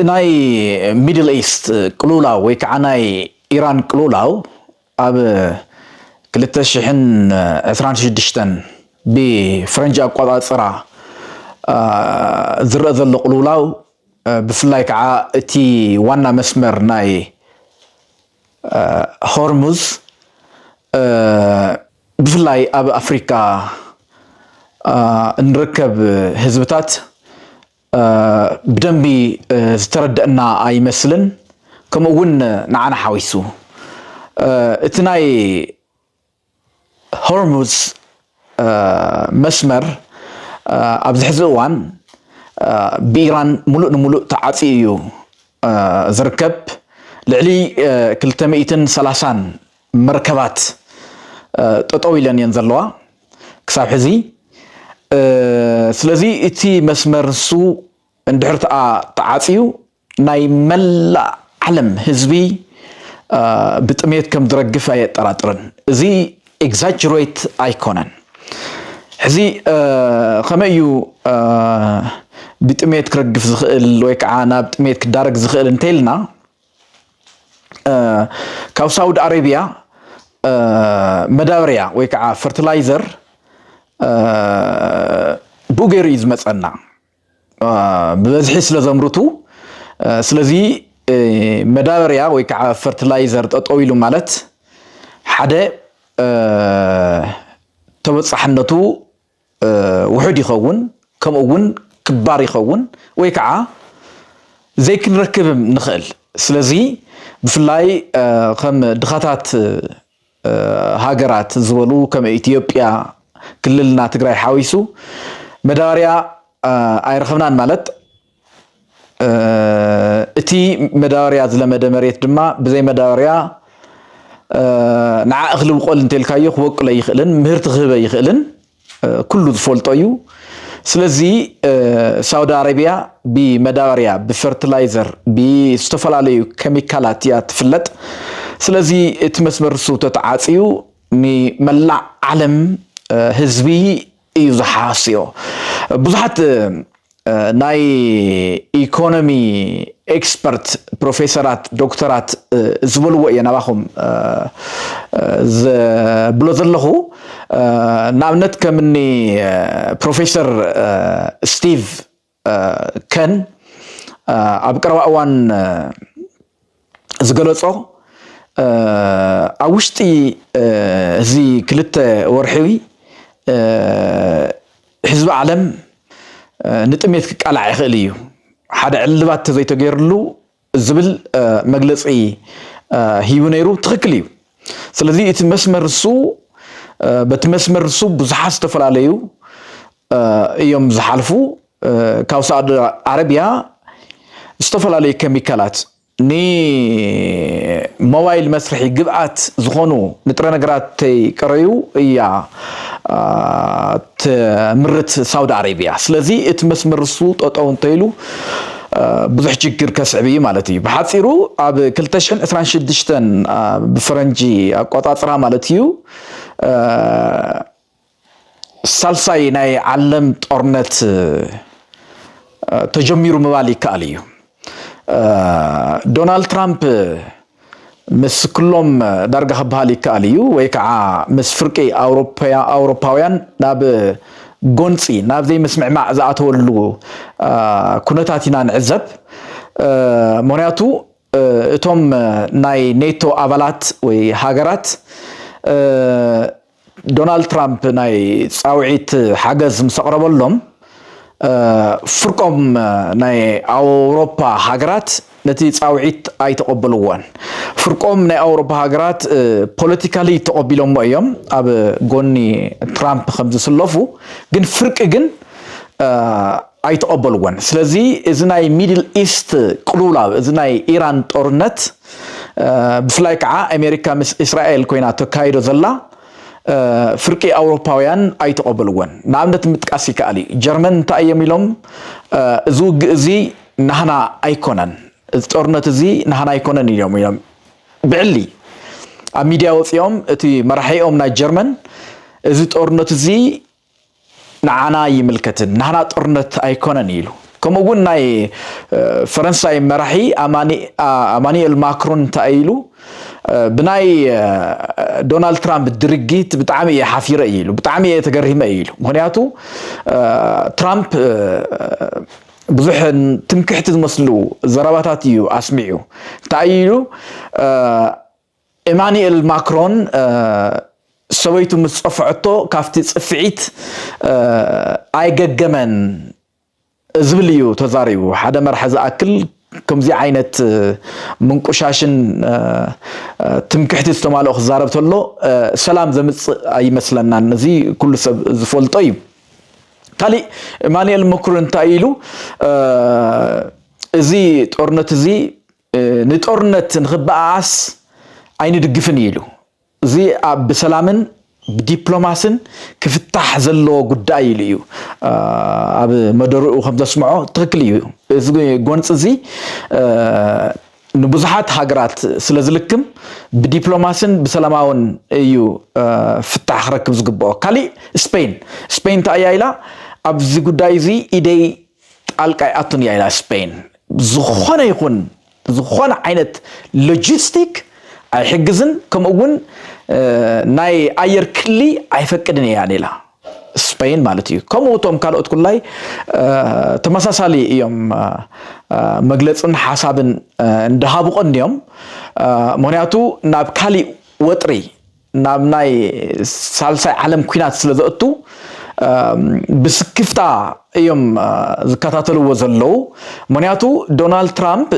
ናይ ሚድል ኢስት ቅሉውላው ወይ ከዓ ናይ ኢራን ቅሉውላው ኣብ ክልተ ሽሕን ዕስራን ሽዱሽተን ብፈረንጂ ኣቆፃፅራ ዝረእ ዘሎ ቅሉውላው ብፍላይ ከዓ እቲ ዋና መስመር ናይ ሆርሙዝ ብፍላይ ኣብ ኣፍሪካ እንርከብ ህዝብታት ብደንቢ ዝተረደእና ኣይመስልን ከምኡ እውን ንዓና ሓዊሱ እቲ ናይ ሆርሙዝ መስመር ኣብዚ ሕዚ እዋን ብኢራን ሙሉእ ንሙሉእ ተዓፅዩ እዩ ዝርከብ ልዕሊ ክልተ ሚእትን ሰላሳን መርከባት ጠጠው ኢለን እየን ዘለዋ ክሳብ ሕዚ ስለዚ እቲ መስመር ንሱ እንድሕር ተኣ ተዓፅዩ ናይ መላእ ዓለም ህዝቢ ብጥሜት ከም ዝረግፍ ኣየጠራጥርን እዚ ኤግዛጅሬት ኣይኮነን ሕዚ ከመይ እዩ ብጥሜት ክረግፍ ዝኽእል ወይ ከዓ ናብ ጥሜት ክዳረግ ዝኽእል እንተይልና ካብ ሳውዲ ኣረቢያ መዳበርያ ወይ ከዓ ፈርቲላይዘር ብኡ ገይሩ እዩ ዝመፀና ብበዝሒ ስለ ዘምርቱ ስለዚ መዳበርያ ወይ ከዓ ፈርቲላይዘር ጠጠው ኢሉ ማለት ሓደ ተበፃሕነቱ ውሑድ ይኸውን ከምኡ እውን ክባር ይኸውን ወይ ከዓ ዘይክንረክብም ንኽእል ስለዚ ብፍላይ ከም ድኻታት ሃገራት ዝበሉ ከም ኢትዮጵያ ክልልና ትግራይ ሓዊሱ መዳበርያ ኣይረኽብናን ማለት እቲ መዳበርያ ዝለመደ መሬት ድማ ብዘይ መዳበርያ ንዓ እኽሊ ብቆል እንተልካዮ ክበቅሎ ኣይኽእልን፣ ምህርቲ ክህበ ኣይኽእልን፣ ኩሉ ዝፈልጦ እዩ። ስለዚ ሳውዲ ኣረቢያ ብመዳበርያ፣ ብፈርትላይዘር፣ ብዝተፈላለዩ ኬሚካላት እያ ትፍለጥ። ስለዚ እቲ መስመር ንሱ ተተዓፅዩ ንመላእ ዓለም ህዝቢ እዩ ዝሓስዮ ብዙሓት ናይ ኢኮኖሚ ኤክስፐርት ፕሮፌሰራት ዶክተራት ዝበልዎ እየ ናባኹም ዝብሎ ዘለኹ ንኣብነት ከምኒ ፕሮፌሰር ስቲቭ ከን ኣብ ቀረባ እዋን ዝገለጾ ኣብ ውሽጢ እዚ ክልተ ወርሒ ህዝቢ ዓለም ንጥሜት ክቃላዕ ይኽእል እዩ ሓደ ዕልባት ተዘይተገይርሉ ዝብል መግለፂ ሂቡ ነይሩ። ትኽክል እዩ። ስለዚ እቲ መስመር እሱ በቲ መስመር እሱ ብዙሓት ዝተፈላለዩ እዮም ዝሓልፉ። ካብ ሳዑዲ ዓረቢያ ዝተፈላለዩ ኬሚካላት ንሞባይል መስርሒ ግብኣት ዝኾኑ ንጥረ ነገራት ተይቀረዩ እያ ትምርት ሳውዲ ኣረብያ ስለዚ እቲ መስመር እሱ ጠጠው እንተይሉ ብዙሕ ችግር ከስዕብ እዩ ማለት እዩ ብሓፂሩ ኣብ 226 ብፈረንጂ ኣቆፃፅራ ማለት እዩ ሳልሳይ ናይ ዓለም ጦርነት ተጀሚሩ ምባል ይከኣል እዩ ዶናልድ ትራምፕ ምስ ክሎም ዳርጋ ክበሃል ይከኣል እዩ ወይ ከዓ ምስ ፍርቂ ኣውሮፓውያን ናብ ጎንፂ ናብ ዘይምስምዕማዕ ዝኣተወሉ ኩነታት ኢና ንዕዘብ ምክንያቱ እቶም ናይ ኔቶ ኣባላት ወይ ሃገራት ዶናልድ ትራምፕ ናይ ፃውዒት ሓገዝ ምስ ኣቕረበሎም ፍርቆም ናይ ኣውሮፓ ሃገራት ነቲ ፃውዒት ኣይተቐበልዎን። ፍርቆም ናይ ኣውሮፓ ሃገራት ፖለቲካሊ ተቐቢሎሞ እዮም ኣብ ጎኒ ትራምፕ ከምዝስለፉ ግን ፍርቂ ግን ኣይተቐበልዎን ስለዚ እዚ ናይ ሚድል ኢስት ቅሉውላው እዚ ናይ ኢራን ጦርነት ብፍላይ ከዓ ኣሜሪካ ምስ እስራኤል ኮይና ተካይዶ ዘላ ፍርቂ ኣውሮፓውያን ኣይተቐበልዎን ንኣብነት ምጥቃስ ይከኣል እዩ ጀርመን እንታይ እዮም ኢሎም እዚ ውግእ እዚ ናህና ኣይኮነን እዚ ጦርነት እዚ ናህና ኣይኮነን እዮም ኢሎም ብዕሊ ኣብ ሚድያ ወፂኦም እቲ መራሒኦም ናይ ጀርመን እዚ ጦርነት እዚ ንዓና ኣይምልከትን ናህና ጦርነት ኣይኮነን ኢሉ ከምኡ እውን ናይ ፈረንሳይ መራሒ ኣማኒኤል ማክሮን እንታይ ኢሉ ብናይ ዶናልድ ትራምፕ ድርጊት ብጣዕሚ እየ ሓፊረ እዩ ኢሉ ብጣዕሚ እየ ተገሪመ እዩ ኢሉ ምክንያቱ ትራምፕ ብዙሕ ትምክሕቲ ዝመስሉ ዘረባታት እዩ ኣስሚዑ እንታይ ኢሉ ኤማኒኤል ማክሮን ሰበይቱ ምስ ጸፍዐቶ ካብቲ ጽፍዒት ኣይገገመን ዝብል እዩ ተዛሪቡ። ሓደ መራሒ ዝኣክል ከምዚ ዓይነት ምንቁሻሽን ትምክሕቲ ዝተማልኦ ክዛረብ ተሎ ሰላም ዘምጽእ ኣይመስለናን። እዚ ኩሉ ሰብ ዝፈልጦ እዩ። ካሊእ ኤማኒኤል ማክሮን እንታይ ኢሉ እዚ ጦርነት እዚ ንጦርነት ንኽበኣኣስ ኣይንድግፍን እዩ ኢሉ። እዚ ብሰላምን ብዲፕሎማስን ክፍታሕ ዘለዎ ጉዳይ ኢሉ እዩ ኣብ መደርኡ ከም ዘስምዖ ትኽክል እዩ። እዚ ጎንፂ እዚ ንብዙሓት ሃገራት ስለ ዝልክም ብዲፕሎማስን ብሰላማውን እዩ ፍታሕ ክረክብ ዝግብኦ። ካሊእ ስፔን ስፔን እንታይ እያ ኢላ ኣብዚ ጉዳይ እዚ ኢደይ ጣልቃ ኣይኣቱን እያ ኢላ ስፐይን። ዝኾነ ይኹን ዝኾነ ዓይነት ሎጂስቲክ ኣይሕግዝን ከምኡ እውን ናይ ኣየር ክሊ ኣይፈቅድን እያ ሌላ ስፐይን ማለት እዩ ከምኡ እቶም ካልኦት ኩላይ ተመሳሳሊ እዮም መግለፅን ሓሳብን እንዳሃቡ ቀንዮም ምክንያቱ ናብ ካሊእ ወጥሪ ናብ ናይ ሳልሳይ ዓለም ኩናት ስለ ዘእቱ ብስክፍታ እዮም ዝከታተልዎ ዘለዉ ምክንያቱ ዶናልድ ትራምፕ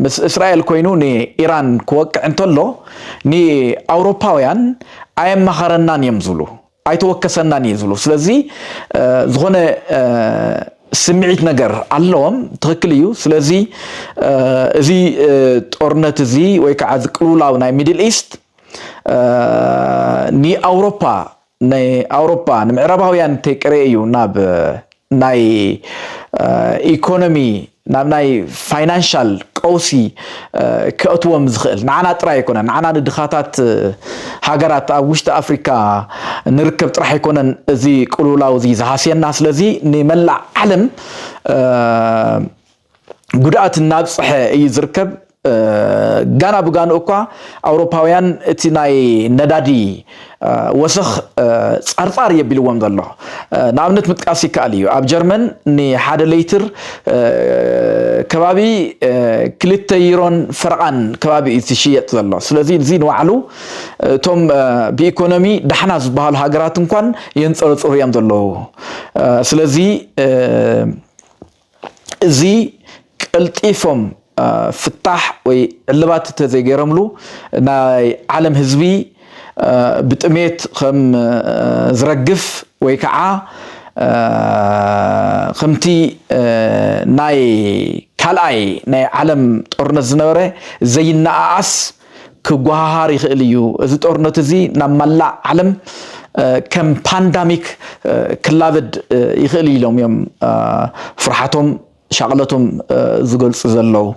ምስ እስራኤል ኮይኑ ንኢራን ክወቅዕ እንተሎ ንኣውሮፓውያን ኣየማኸረናን እዮም ዝብሉ ኣይተወከሰናን እዩ ዝብሉ ስለዚ ዝኾነ ስምዒት ነገር ኣለዎም ትክክል እዩ ስለዚ እዚ ጦርነት እዚ ወይ ከዓ እዚ ቅልውላው ናይ ሚድል ኢስት ንኣውሮፓ ንኣውሮፓ ንምዕራባውያን እንተይቀረየ እዩ ናብ ናይ ኢኮኖሚ ናብ ናይ ፋይናንሻል ቀውሲ ከእትዎም ዝኽእል ንዓና ጥራይ ኣይኮነን ንዓና ንድኻታት ሃገራት ኣብ ውሽጢ ኣፍሪካ ንርከብ ጥራሕ ኣይኮነን እዚ ቅልውላው እዚ ዝሃስየና ስለዚ ንመላእ ዓለም ጉድኣት እናብፅሐ እዩ ዝርከብ። ጋና ብጋንኡ እኳ ኣውሮፓውያን እቲ ናይ ነዳዲ ወሰኽ ፃርፃር የቢልዎም ዘሎ ንኣብነት ምጥቃስ ይከኣል እዩ። ኣብ ጀርመን ንሓደ ሌይትር ከባቢ ክልተ ዩሮን ፈረቓን ከባቢ እዩ ዝሽየጥ ዘሎ። ስለዚ እዚ ንባዕሉ እቶም ብኢኮኖሚ ዳሕና ዝበሃሉ ሃገራት እንኳን የንፀረፅሩ እዮም ዘለዉ። ስለዚ እዚ ቀልጢፎም ፍታሕ ወይ ዕልባት እንተዘይገይሮምሉ ናይ ዓለም ህዝቢ ብጥሜት ከም ዝረግፍ ወይ ከዓ ከምቲ ናይ ካልኣይ ናይ ዓለም ጦርነት ዝነበረ ዘይነኣኣስ ክጎሃሃር ይኽእል እዩ። እዚ ጦርነት እዚ ናብ መላእ ዓለም ከም ፓንዳሚክ ክላበድ ይኽእል ኢሎም እዮም ፍርሓቶም ሻቕለቶም ዝገልጹ ዘለዉ።